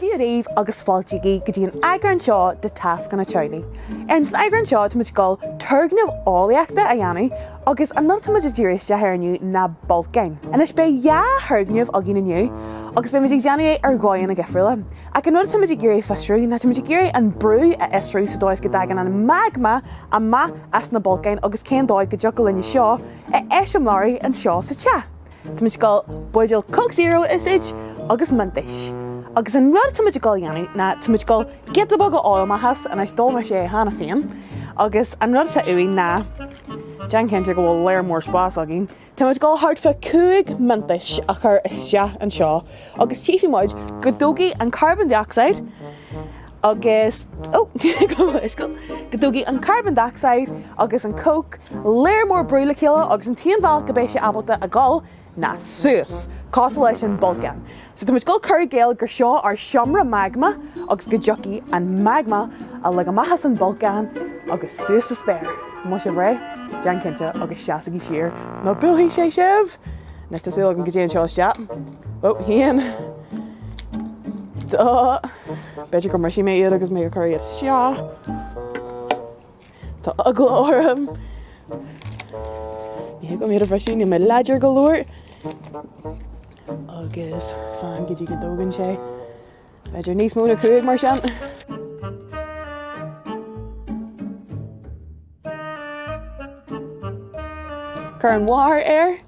Dia dhaoibh agus fáilte go dtí an eagrán seo de Tascanna Teaghlaigh. Ar an eagrán seo táimid ag dul turgnamh eolaíochta a dhéanamh agus an rud táimid ag díriú isteach air inniu ná bolcáin. Anois beidh dhá thurgnamh againn inniu agus beimid ag déanamh é ar dhóigheanna difriúla. Ach an rud atáimid ag iarraidh a fhiosrú ná táimid ag iarraidh an brú a fhiosrú sa dóigh is go dtagann an magma amach as na bolcáin agus cén dóigh go dtiocfadh linn seo a eiseamláiriú anseo sa teach. Táimid ag dul buidéal Coke Zero a úsáid agus Mentos. Agus an rud atáimid ag dul a dhéanamh ná táimid ag dul giota beag a fháil amach as anois d'ól mé sé cheana féin agus an rud atá uaibh ná déan cinnte go bhfuil lear mór spás againn Táimid ag dul thart fá cúig Mentos a chur isteach anseo agus tchífidh muid go dtógfaidh an carbon dioxide agus go dtógfaidh an carbon dioxide agus an coke lear mór brú le chéile agus an t-aon bhealach go mbeidh sé ábalta a dhul ná suas, cosúil leis an bolcán. So táimid ag dul cur i gcéill gur seo ár seomra magma agus go dtiocfaidh an magma uilig amach as an bolcán agus suas sa spéir. An bhfuil sibh réidh? Déan cinnte agus seasaigí siar nó buailfidh sé sibh! Anois tá súil agam go dtéann seo isteach. Ó, haon. Dó. B'fhéidir go mbrisfidh mé iad agus mé ag cur iad isteach. Tá eagla orm. Ní thig liom iad a bhriseadh, níl mé láidir go leor. Agus fan go dtí go dtógann sé. B'fhéidir níos mó ná cúig mar sin. Cuir an barr air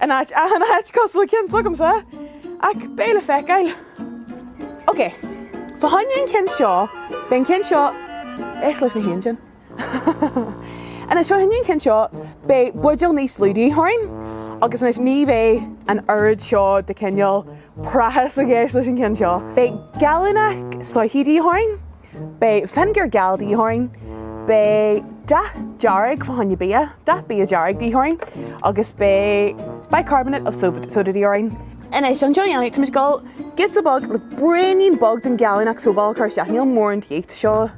In áit, achan áit, cosúil le ceann s'agamsa, ach beidh sé le feiceáil. Ok, fá choinne an chinn seo, beidh an ceann seo, éist leis na héin sin. Anois, fá choinne an chinn seo, beidh buidéal níos lú de dhíth orainn, agus anois ní bheidh an oiread seo de cineál praiseach i gceist leis an cheann seo. Beidh gallúnach soithí de dhíth orainn. Beidh fínéagar geal de dhíth orainn. Beidh dath dearg fá choinne bia, dath bia dearg de dhíth orainn agus beidh bicarbonate of soda de dhíth orainn. Anois, leis seo a dhéanamh, táimid ag dul giota beag, braoinín beag den gallúnach sobal a chur isteach. Níl mórán de dhíth, tá seo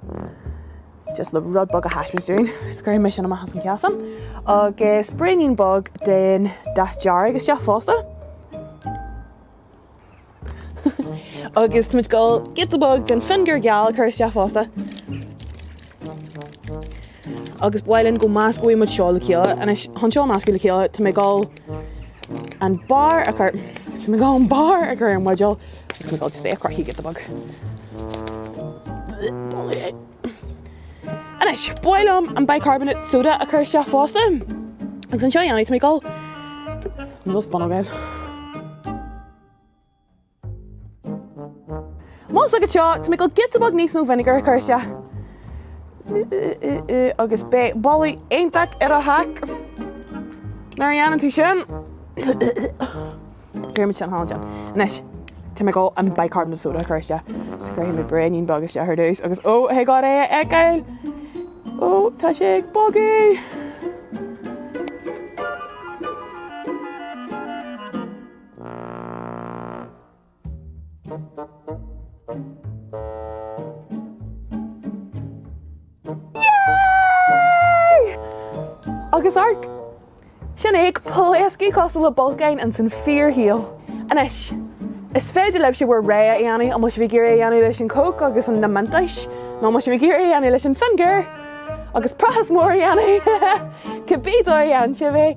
just le rud beag a thaispeáint dúinn. Is cuirfidh mé sin amach as an chasán agus braoinín beag den dath dearg isteach fosta. Agus táimid ag gabháil giota beag den vinegar geal a chur isteach fosta. Agus ba mhaith linn go meascóidh muid seo le chéile. Anois chun seo a mheascadh le chéile tá mé ag gabháil an barr a chur tá mé ag gabháil an barr a chur ar an mbuidéal agus mé ag gabháil just é a chroitheadh giota beag. Anois ba mhaith liom an bicarbonate soda a chur isteach fosta. Agus chun seo a dhéanamh tá mé ag gabháil nó spoon againn. Más agat seo, tá mé ag dul giota beag níos mó vinegar a chur isteach. Agus beidh boladh iontach ar do theach. Nuair a dhéanann tú sin, cuirfimid sin thall ansin. Anois, tá mé ag dul an bicarbonate soda a chur isteach. So cuirfidh mé braoinín beag isteach ar dtús agus ó, thig liom é a fheiceáil! Ó, tá sé ag bogadh! Yay! Agus amharc! Sin é, ag pléascadh cosúil le bolcán ins an fíorshaol. Anois, is féidir libhse bhur rogha a dhéanamh, an bhfuil sibh ag iarraidh é a dhéanamh leis an Coke agus an na Mentos, nó an bhfuil sibh ag iarraidh é a dhéanamh leis an vinegar agus prácás mór a dhéanamh, cibé dóigh a dhéanann sibh é.